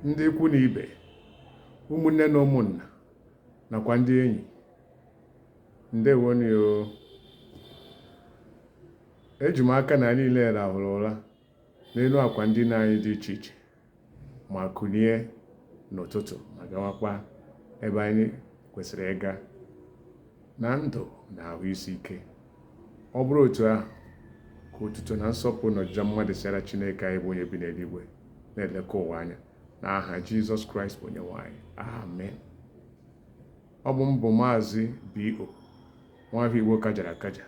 ndị ikwu na ibe ụmụnne na ụmụnna nakwa ndị enyi ndewonu o eji m aka na anyị niile rahụrụ ụra n'elu akwa ndina anyị dị iche iche ma kulie n'ụtụtụ ma gawakwa ebe anyị kwesịrị ịga na ndụ na ahụ isi ike ọ bụrụ otu ahụ ka otuto na nsọpụrụ na ọjịja mma dịsịara Chineke anyị bụ onye bi n'eluigwe na-eleka ụwa anya na aha Jizọs Kraịst bụ Onyenwe anyị amen ọ bụ m bụ maazị B.O. nwafọ Igbo kajara akaja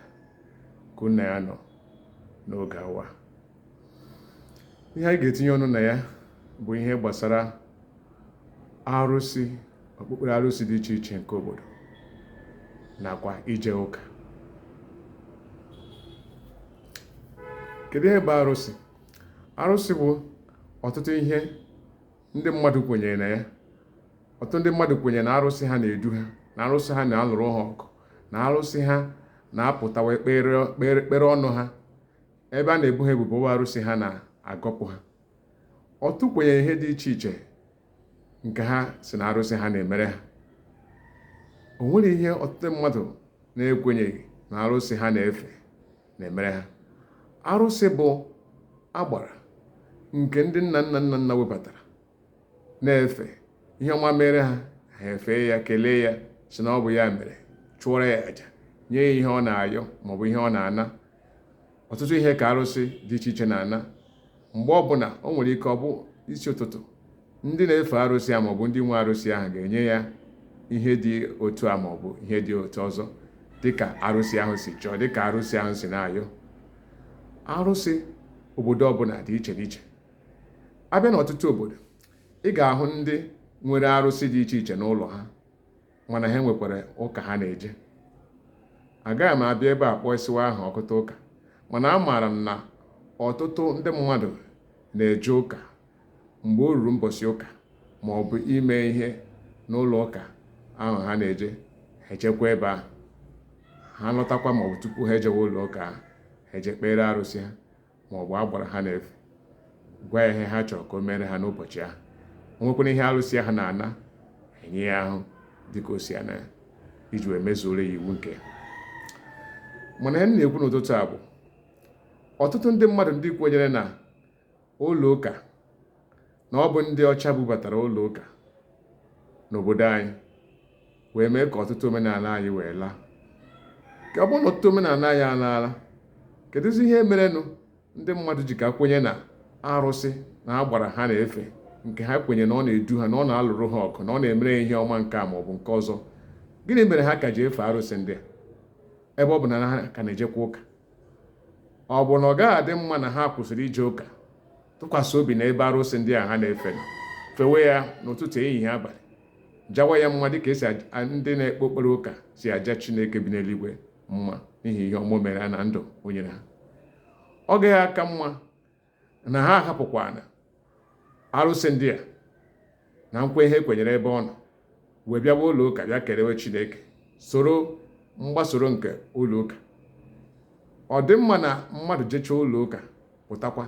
ka unu na ya nọ n'oge awa ihe anyị ga-etinye ọnụ na ya bụ ihe gbasara arụsị okpukpere arụsị dị iche iche nke obodo nakwa ije ụka kedu ihe bụ arụsị arụsị bụ ọtụtụ ihe ndị mmadụ kwenyere na ya ọtụtụ ndị mmadụ kwenyere na arụsị ha na-edu ha na arụsị ha na-alụrụ ha ọgụ na arụsị ha na-apụtawa ekpere ọnụ ha ebe a na-ebu ha ebubo ụgha arụsị ha na-agọpụ ha ọtụ kwenyere ihe dị iche iche nke ha sị na arụsị ha na-emere ha o nwere ihe ọtụtụ mmadụ na-ekwenyeghị na arụsị ha na-efe na-emere ha arụsị bụ agbara nke ndị nna nna nna nna webatara na-efe ihe ọma meere ha ha efee ya kelee ya sị na ọ bụ ya mere chụọrọ ya aja nye ya ihe ọ na-ayọ maọbụ ihe ọ na-ana ọtụtụ ihe ka arụsị dị iche iche na-ana mgbe ọbụla o nwere ike ọ bụ isi ụtụtụ ndị na-efe arụsị a maọbụ ndị nwe arụsị ahụ ga-enye ya ihe dị otu a maọbụ ihe dị otu ọzọ dịka arụsị ahụ si chọọ dịka arụsị ahụ si na-ayọ arụsị obodo ọbụla dị iche n'iche a bịa n'ọtụtụ obodo ị ga-ahụ ndị nwere arụsị dị iche iche n'ụlọ ha mana ha nwekwara ụka ha na-eje agaghị m abịa ebe a kpọsiwa aha ọtụtụ ụka mana amaara m na ọtụtụ ndị mmadụ na-eje ụka mgbe o ruru mbọsị ụka ma ọ bụ ime ihe n'ụlọ ụka ahụ ha na-eje ha ejekwa ebe ahụ ha lọtakwa ma ọ bụ tupu ha ejewe ụlọ ụka ahụ ha eje kpeere arụsị ha ma ọ bụ agbara ha na-efe gwa ya ihe ha chọrọ ka o meere ha n'ụbọchị ahụ o nwekwara ihe arụsị ahụ na-ana e nye ya ihe ahụ dịka o si ana ya iji wee mezuoro ya iwu nke ya mana ihe m na-ekwu n'ụtụtụ a bụ ọtụtụ ndị mmadụ ndị kwenyere na ụlọ ụka na ọ bụ ndị ọcha bubatara ụlọ ụka n'obodo anyị wee mee ka ọtụtụ omenala anyị wee laa ka ọ bụrụ na ọtụtụ omenala anyị alaala kedụzi ihe merenụ ndị mmadụ ji ka kwenye na arụsị na agbara ha na-efe nke ha kwenye na ọ na-edu ha na ọ na-alụrụ ha ọkụ na ọ na-emere ya ihe ọma nke a ma ọ bụ nke ọzọ gịnị mere ha ka ji efe arụsị ndị a ebe ọ bụ na ha ka na-ejekwa ụka ọ bụ na ọ gaghị adị mma na ha kwụsịrị ije ụka tụkwasị obi na ebe arụsị ndị a ha na-efe fewe ya n'ụtụtụ ehihie abalị jawa ya mma dịka esi ndị na-ekpe okpere ụka si aja chineke bi n'eluigwe mma n'ihi ihe ọma o mere na ndụ o nyere ha ọ gaghị aka mma na ha ahapụkwanụ arụsị ndị a na nkwa ihe e kwenyere ebe ọ nọ wee bịawa ụlọ ụka bịa kelewe chineke soro mgbasoro nke ụlọ ụka ọ dị mma na mmadụ jechaa ụlọ ụka pụtakwa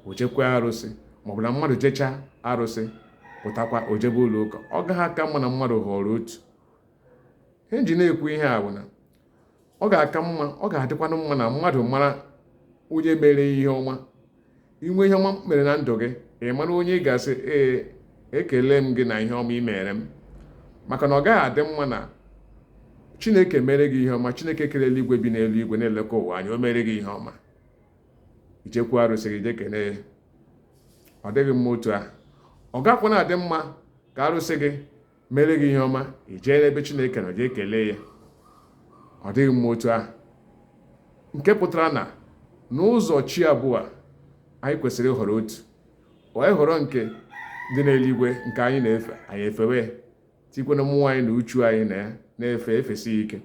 o jekwaa arụsị maọbụ na mmadụ jechaa arụsị pụtakwa o jebe ụlọ ụka ọ gaghị aka mma na mmadụ họrọ otu ihe m ji na-ekwu ihe a bụ na ọ ga-aka mma ọ ga-adịkwanụ mma na mmadụ mara onye mere ihe ọma i nwee ihe ọma mere na ndụ gị ị mara onye ị ga-asị ee ekele m gị na ihe ọma ị mere m maka na ọ gaghị adị mma na chineke mere gị ihe ọma chineke kere eluigwe bi n'eluigwe na-elekọ ụwa anya o mere gị ihe ọma i jekwu arụsị gị jee kenee ya ọ dịghị mma otu ahụ ọ gakwa na-adị mma ka arụsị gị mere gị ihe ọma i jee n'ebe chineke nọ jee kelee ya ọ dịghị mma otu ahụ nke pụtara na n'ụzọ chi abụọ anyị kwesịrị ịhọrọ otu anyị họrọ nke dị n'eluigwe nke anyị na-efe anyị efewe tikwanụ mmụọ anyị na uchu anyị na ya na-efe efesi ike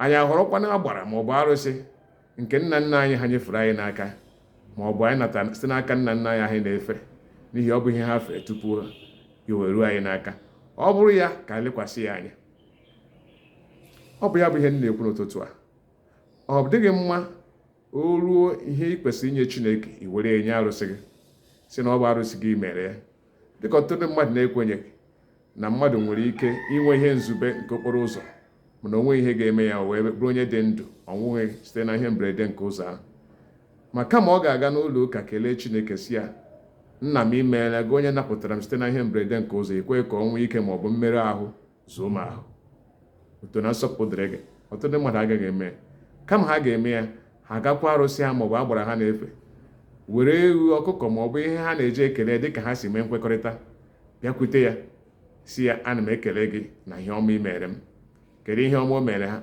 anyị ahọrọkwanụ agbara ma ọ bụ arụsị nke nna nna anyị ha nyefere anyị n'aka ma ọ bụ anyị nata site n'aka nna nna anyị anyị na-efe n'ihi ọ bụ ihe ha fere tupu ya wee ruo anyị n'aka ọ bụrụ ya ka anyị lekwasị ya anya ọ bụ ya bụ ihe m na-ekwu n'ụtụtụ a ọ dịghị mma o ruo ihe ị kwesịrị inye Chineke i were enye arụsị gị sị na ọ bụ arụsị gị mere ya dịka ọtụtụ ndị mmadụ na-ekwenye na mmadụ nwere ike inwe ihe mberede nke okporo ụzọ mana o nwere ihe ga-eme ya wee bụrụ onye dị ndụ ọ nwụghị site na ihe mberede nke ụzọ ahụ ma kama ọ ga-aga n'ụlọ ụka kelee Chineke si ya nna m imeela gị onye napụtara m site na ihe mberede nke ụzọ ekweghị ka ọnwụ ike ma ọ bụ mmerụ ahụ ruo m ahụ otuto na nsọpụrụ dịrị gị ọtụtụ ndị mmadụ agaghị eme kama ha ga-eme ya ha gakwa arụsị ha maọbụ agbara ha na-efe were ewu ọkụkọ maọbụ ihe ha na-eji ekele dịka ha si mee nkwekọrịta bịakwute ya sị ya ana m ekele gị na ihe ọma i mere m kedu ihe ọma o mere ha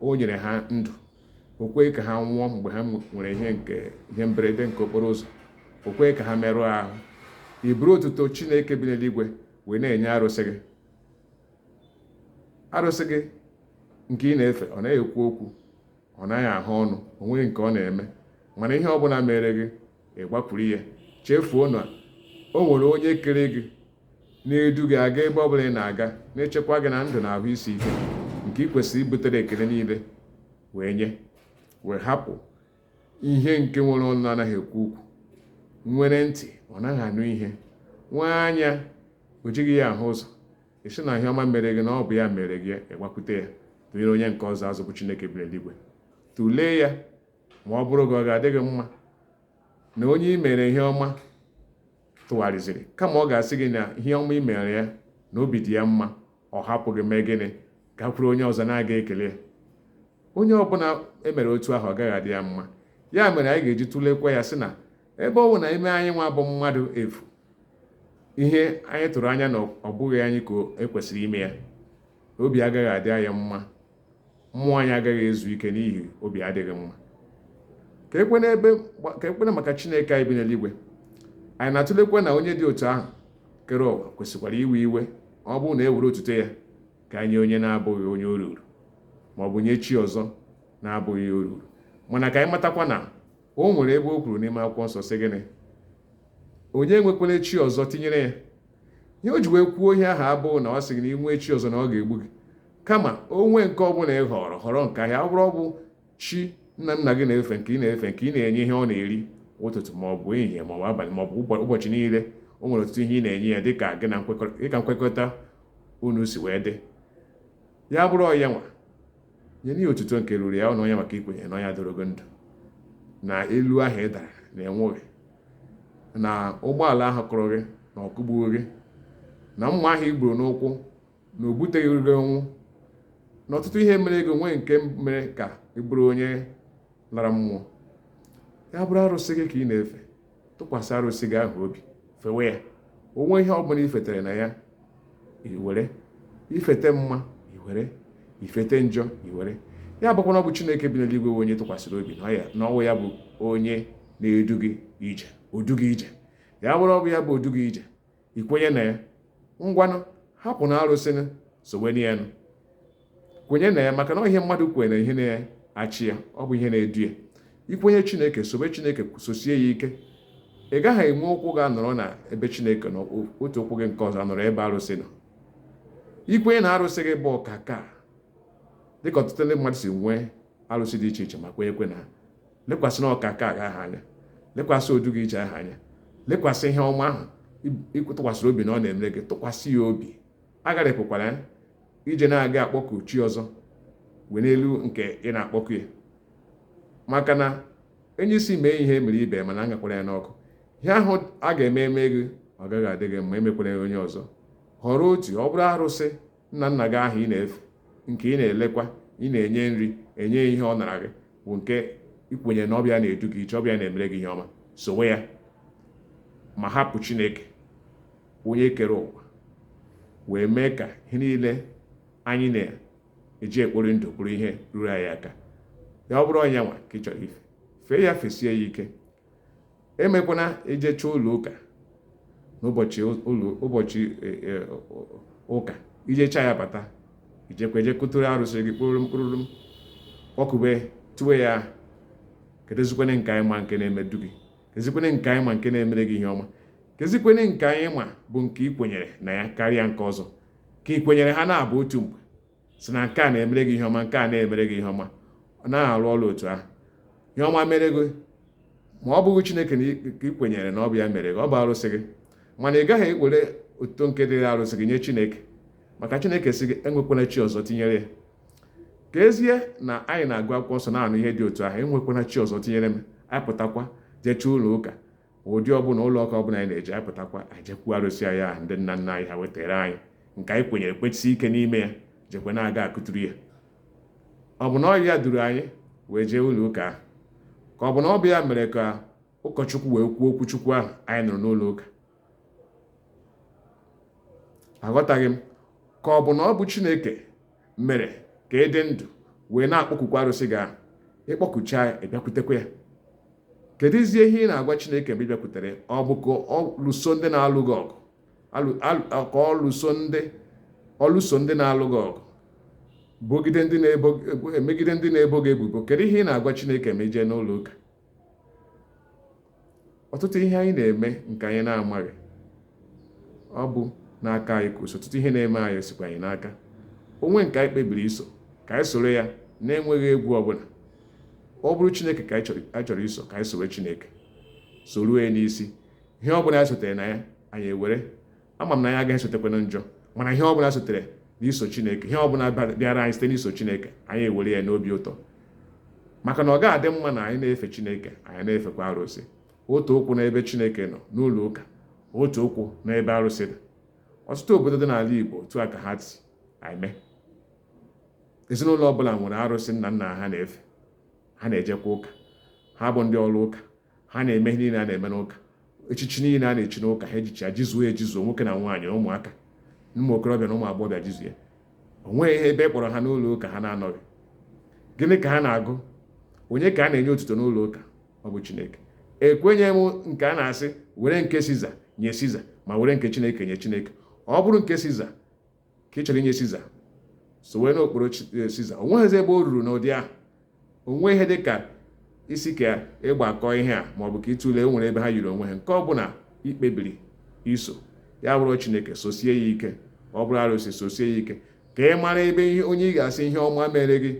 o nyere ha ndụ o kweghị ka ha nwụọ mgbe ha nwere ihe nke ihe mberede nke okporo ụzọ o kweghị ka ha merụọ ahụ i buru otuto chineke bi n'eluigwe wee na-enye arụsị gị arụsị gị nke ị na-efe ọ naghị ekwu okwu ọ naghị ahụ ọnụ o nweghị nke ọ na-eme mana ihe ọ bụla mere gị ị gbakwuru ya chefuo na o nwere onye kere gị na-edu gị aga ebe ọ bụla ị na-aga na-echekwa gị na ndụ na ahụ isi ike nke ị kwesịrị ibutere ekele niile wee nye wee hapụ ihe nke nwere ọnụ na-anaghị ekwu okwu nwere ntị ọ naghị anụ ihe nwee anya o jighị ya ahụ ụzọ ị sị na ihe ọma mere gị na ọ bụ ya mere gị ị gbakwute ya tụnyere onye nke ọzọ azụ bụ chineke bi n'eluigwe tụlee ya ma ọ bụrụ gị ọ ga-adị gị mma na onye i mere ihe ọma tụgharịziri kama ọ ga-asị gị na ihe ọma i mere ya na obi dị ya mma ọ hapụ gị mee gịnị gakwuru onye ọzọ na-aga ekele ya onye ọ bụla e mere otu ahụ ọ gaghị adị ya mma ya mere anyị ga-eji tụlekwa ya sị na ebe ọ bụ na i mee anyị nwa bụ mmadụ efu ihe anyị tụrụ anya na ọ bụghị anyị ka e kwesịrị ime ya obi agaghị adị anyị mma mmụọ anyị agaghị ezu ike n'ihi obi adịghị mma kee kwanụ maka chineke anyị bi n'eluigwe anyị na-atụlekwa na onye dị otu ahụ kere ụwa kwesịkwara iwe iwe ọ bụrụ na e were otuto ya ka nye onye na-abụghị onye o ruru ma ọ bụ nye chi ọzọ na-abụghị o ruru mana ka anyị matakwa na o nwere ebe o kwuru n'ime akwụkwọ nsọ sị gịnị onye enwekwala chi ọzọ tinyere ya ihe o ji wee kwuo ihe ahụ abụghị na ọ sị gị na i nwee chi ọzọ na ọ ga-egbu gị kama o nwee nke ọ bụla ị họrọ họrọ nke ahụ ọ bụrụ ọ bụ chi nna nna gị na-efe nke ị na-efe nke ị na-enye ihe ọ na-eri ụtụtụ ma ọ bụ ehihie ma ọ bụ abalị ma ọ bụ ụbọchị niile o nwere ọtụtụ ihe ị na-enye ya dịka gị na nkwekọrịta unu si wee dị ya bụrụ ọ ya nwa nyenụ ya otuto nke ruru ya ọnụ onye maka i kwenye na onye doro gị ndụ na elu ahụ ị dara na ị nwụghị na ụgbọala ahụ kụrụ gị na ọ kụgbughị gị na mma ahụ i gburu n'ụkwụ na o buteghị gị ọnwụ na ọtụtụ ihe mere gị o nweghị nke mere ka ị bụrụ onye lara mmụọ ya bụrụ arụsị gị ka ị na-efe tụkwasị arụsị gị ahụ obi fewe ya o nwee ihe ọ bụla i fetere na ya i were i fete mma i were i fete njọ i were ya bụkwa na ọ bụ chineke bi n'eluigwe onye ị tụkwasịrị obi na ọ wụ ya bụ onye na-edu gị ije o du gị ije ya bụrụ ọ bụ ya bụ o du gị ije i kwenye na ya ngwanụ hapụnụ arụsịnụ sowenụ yanụ kwenye na ya maka na ihe mmadụ kwere na ihe na-achị ya ọ bụ ihe na-edu ya i kwenye chineke sobe chineke sosie ya ike ị gaghị enwe ụkwụ gị anọrọ na ebe chineke na otu ụkwụ gị nke ọzọ anọrọ ebe arụsị nọ i kwenye na arụsị gị bụ ọkaka dịka ọtụtụ ndị mmadụ si nwee arụsị dị iche iche ma kwenyekwe na lekwasịnụ ọkaka gị ahụ anya lekwasị odu gị ije ahụ anya lekwasị ihe ọma ahụ ị tụkwasịrị obi na ọ na-emere gị tụkwasị ya obi agharịpụkwara ya ije na-aga akpọku chi ọzọ wee n'elu nke ị na-akpọku ya maka na onye isi mee ihe e mere ibe mana agakwara ya n'ọkụ ihe ahụ a ga-eme eme gị ọ gaghị adị gị mma emekwara ya onye ọzọ họrọ otu ọ bụrụ arụsị nna nna gị ahụ ị na-efe nke ị na-elekwa ị na-enye nri enye ya ihe ọ nara gị bụ nke i kwenye na ọ bụ ya na-edu gị ije ọ bụ ya na-emere gị ihe ọma sowe ya ma hapụ chineke onye kere ụwa wee mee ka ihe niile anyị na-eji ekpori ndụ bụrụ ihe ruru anyị aka ya ọ bụrụ nya nwa ka ị chọrọ ife fee ya fesie ya ike emekwana i jecha ụlọ ụka n'ụbọchị ụbọchị e, e, ụka i jecha ya bata i jekwa jee kụtụrụ arụsị gị kpụrụ mkpụrụ kpọkube towe ya kedụzikwene nke anyị ma nke na-edu gị kezikwene nke anyị ma nke na-emere gị ihe ọma kezikwene nke anyị ma bụ nke ị kwenyere na ya karịa nke ọzọ ka ị kwenyere ha n'abụọ otu mgbe si na nke a na-emere gị ihe ọma nke a na-emere gị ihe ọma ọ naghị arụ ọrụ otu ahụ ihe ọma mere gị ma ọ bụghị chineke na ị kwenyere na ọ bụ ya mere gị ọ bụ arụsị gị mana ị gaghị ewere otuto nke dịrị arụsị gị nye chineke maka chineke sị gị enwekwana chi ọzọ tinyere ya ka ezie na anyị na-agụ akwụkwọ nsọ na-anụ ihe dị otu ahụ enwekwana chi ọzọ tinyere m apụtakwa jecha ụlọ ụka ụdị ọbụla ụlọ ụka ọbụla anyị na-eje apụtakwa ejekwu arụsị anyị ahụ ndị nna nna anyị ha wetara anyị nke anyị kwenyere kwesie ike n'ime ya jekwa na-aga akụturu ya ọ bụ na ọ bụ ya duru anyị wee jee ụlọ ụka ahụ ka ọ bụ na ọ bụ ya mere ka ụkọchukwu wee kwuo okwu chukwu ahụ anyị nụrụ n'ụlọ ụka aghọtaghị m ka ọ bụ na ọ bụ chineke mere ka ị dị ndụ wee na-akpọkukwa arụsị gị ahụ ị kpọkucha ya ị bịakwutekwa ya kedụzie ihe ị na-agwa chineke mgbe ị bịakwutere ọ bụ ka ọ lụso ndị na-alụ gị ọgụ ka ọ lụso ndị ọ lụso ndị na-alụ gị ọgụ bogide ndị na-ebo megide ndị na-ebo gị ebubo kedu ihe ị na-agwa chineke ma i jee n'ụlọ ụka ọtụtụ ihe anyị na-eme nke anyị na-amaghị ọ bụ n'aka anyị ka o si ọtụtụ ihe na-eme anyị sikwa anyị n'aka o nwee nke anyị kpebiri iso ka anyị soro ya na-enweghị egwu ọbụla ọ bụrụ chineke ka anyị chọrọ iso ka anyị soro chineke soruo ya n'isi ihe ọbụla anyị sotere na ya anyị ewere ama m na anyị agaghị esotekwanụ njọ mana ihe ọ bụla sotere n'iso chineke ihe ọ bụla bịara anyị site n'iso chineke anyị ewere ya n'obi ụtọ maka na ọ gaghị adị mma na anyị na-efe chineke anyị na-efekwa arụsị otu ụkwụ n'ebe chineke nọ n'ụlọ ụka otu ụkwụ n'ebe arụsị dị ọtụtụ obodo dị n'ala igbo otu a ka ha si eme ezinụlọ ọbụla nwere arụsị nna nna ha na-efe ha na-ejekwa ụka ha bụ ndị ụlọ ụka ha na-eme ihe niile a na-eme n'ụka echichi niile a na-echi n'ụka ha ejichie ya jizuo ejizuo nwoke na nwaanyị na ụmụaka ụmụ okorobịa na ụmụ agbọghọbịa jizuo ya o nweghị ebe a kpọrọ ha n'ụlọ ụka ha na-anọghị gịnị ka ha na-agụ onye ka a na-enye otuto n'ụlọ ụka ọ bụ chineke ekwenye m nke a na-asị were nke siza nye siza ma were nke chineke nye chineke ọ bụrụ nke siza ka ị chọrọ inye siza sowe n'okporo eh, siza o nweghịzi ebe o ruru n'ụdị ahụ o nweghị ihe dị ka ị sị ka ị gbakọọ ihe a maọbụ ka ị tụlee o nwere ebe ha yiri onwe ha nke ọ bụla i kpebiri iso ya bụrụ chineke sosie ya ike ọ bụrụ arụsị sosie ya ike ka ị mara ebe ihe onye ị ga-asị ihe ọma mere gị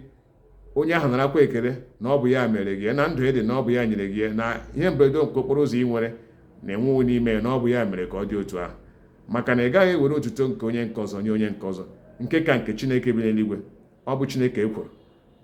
onye ahụ narakwa ekele na ọ bụ ya mere gị na ndụ ị dị na ọ bụ ya nyere gị na ihe mberede nke okporo ụzọ i nwere na-anwụghị n'ime na ọ bụ ya mere ka ọ dị otu ahụ maka na ị gaghị ewere otuto nke onye nke ọzọ nye onye nke ọzọ nke ka nke chineke bi n'eluigwe ọ bụ chineke ekworo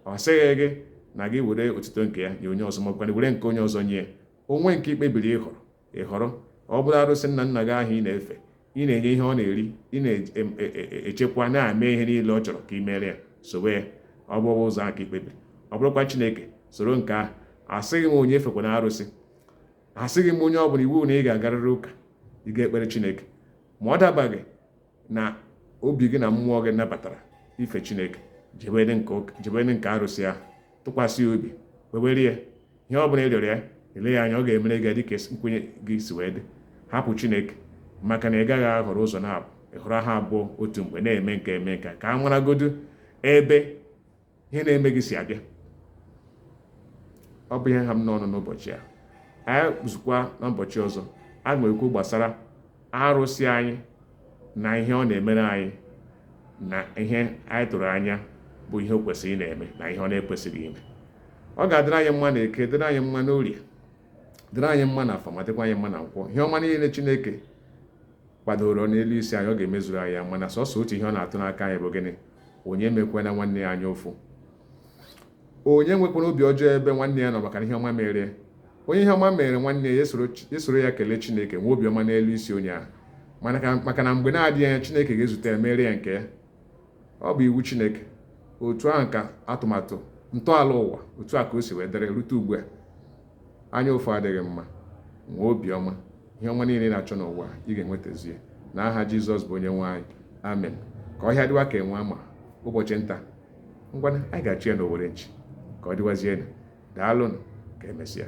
ọ sịghị gị na gị were otuto nke ya nye onye ọzọ makwana were nke onye ọzọ nye o nwee nke i kpebiri ịhọrọ ị họrọ ọ bụrụ arụsị nna nna gị ahụ ị na-efe ị na-enye ihe ọ na-eri ị na-echekwa e, e, e, na-eme ihe niile ọ chọrọ ka ị mere ya sowe ya ọ bụ ụzọ a ka i kpebiri ọ bụrụkwa Chineke soro nke ahụ asịghị m onye efekwana arụsị asịghị m onye ọ bụla iwu na ị ga-agarịrị ụka ị ga-ekpere Chineke ma ọ dabaghị n'obi gị na mmụọ gị nabatara ife chineke jebe na nke arụsị ahụ tụkwasị obi kpewere ya ihe ọ bụla ị rịọrọ ya ele ya anya ọ ga-emere gị dịka nkwenye gị si wee dị hapụ chineke maka na ị gaghị ahọrọ ụzọ naabọ ị họrọ ha abụọ otu mgbe na-eme nke eme nke ka a maragodu ebe ihe na-eme gị si abịa ọ bụ ihe ha m n'ọnụ n'ụbọchị a anyị zukwaa n'ụbọchị ọzọ a ga-ekwu gbasara arụsị anyị na ihe ọ na-emere anyị na ihe anyị tụrụ anya bụ ihe o kwesịrị ịna-eme na ihe ọ na-ekwesịghị ime ọ ga-adịrị anyị mma na eke dịrị anyị mma n'orie dịrị anyị mma na afọ ma dịkwa anyị mma na nkwọ ihe ọma niile Chineke kwadoro n'elu isi anyị ọ ga-emezuru anyị ya mana sọsọ otu ihe ọ na-atụ n'aka anyị bụ gịnị onye emekwana nwanne ya anya ụfụ onye enwekwana obi ọjọọ ebe nwanne ya nọ maka na ihe ọma mere onye ihe ọma mere nwanne ya soro ya kelee chineke nwee obiọma n'elu isi onye ahụ maka na mgbe na-adịghị anya chineke ga-ezute ya mere ya nke ya ọ bụ iwu chineke otu ahụ ka atụmatụ ntọala ụwa otu a ka o si wee dịrị rute ugbu a anya ụfụ adịghị mma nwee obiọma ihe ọma niile ị na-achọ n'ụwa ị ga-enwetazie na aha jizọs bụ onye nwe anyị amen ka ọhịa dịwa ka enwe ama ụbọchị nta ngwana anyị ga-achụ ya n'owere nchi ka ọ dịwazienụ daalụnụ ka emesịa